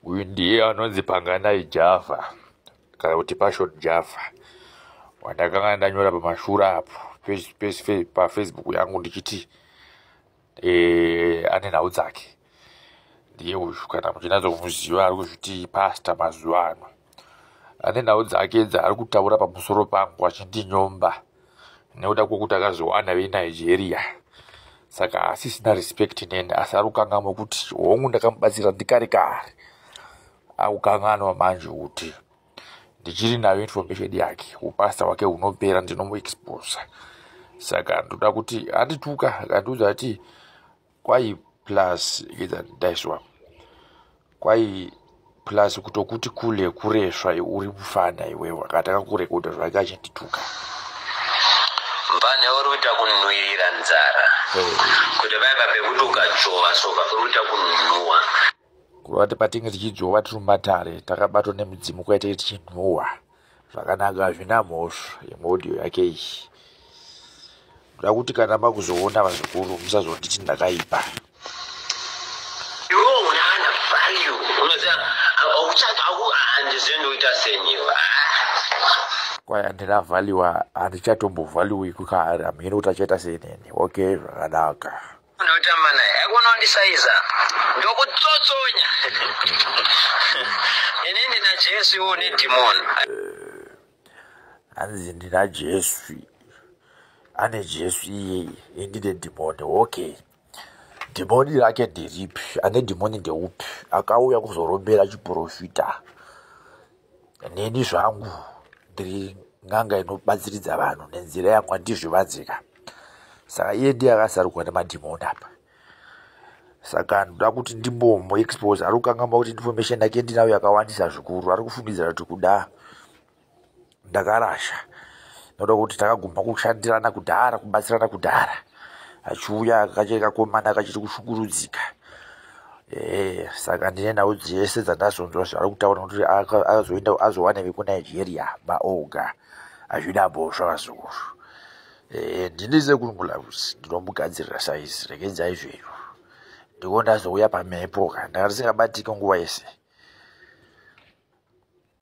uyu ndiye anonzi panganai java kana kuti passion java wandakanga ndanyora pamashura apo pafacebook yangu ndichiti e, ane nhau dzake ndiye uyu kana muchinatsomuziva ari kuzviti pasta mazuva ano ane nhau dzake dzaari kutaura pamusoro pangu achindinyomba nekuda kwekuti akazviwana venigeria saka hasisina respect neni asi ari kukanganwa kuti hongu ndakamubatsira ndikare kare akukanganwa manje kuti ndichiri nayo information yake upasta hwake hunopera ndinomuexposa saka ndoda kuti andituka akandiudza ati kwai plus ndaiswa kwai plus kutokuti kule kuresva uri kufana iwewe akatanga kurekodha zvake achitituka mbane uri kuita kunhuirira nzara kuti vaiva pekuti ukachova so vakuita kunhuwa kureva kuti patinge tichidzvova tiri mumatare takabatwa nemudzimu kwaitei tichinhuhwa zvakanaka hazvina mhosva imwe audio yake iyi ndoda kuti kana makuzoona vazukuru musazonditi ndakaipa kwaya ndina vhaliwa handichatombovhaliwi kukahari hamhiri kuti achaita seinini okay zvakanaka ndotamba naye akunondisaiza ndokutsotsonya ini ndina jesu iwo nedhimoni hanzi ndina jesu ane jesu iyeye indine dhimoni okay dhimoni rake nderipi ane dhimoni ndeupi akauya kuzorombera chiprofita neni zvangu ndiri n'anga inobatsiridza vanhu nenzira yangu andizvivanzika saka iye ndiye akasarukwa nemadhimoni apa saka ndoda kuti ndimbomu expose ari kukangamwa kuti information yake ndinayo yakawandisa zvikuru ari kufungidzira kuti kuda ndakarasha ndoda kuti takaguma kushandirana kudhara kubatsirana kudhara achiuya kachiri kakomana kachiri kushukurudzika ee saka ndine nhau dzese dzandazonzwa zvaari kutaura nokuti azoenda azowana vekunigeria maoga azvida bhosva vazukuru ee ndini sekungulavusi ndinomugadzirira saizi regedzai zvenyu ndiko ndazouya pamhepo ka ndanga ndisingabatike nguva yese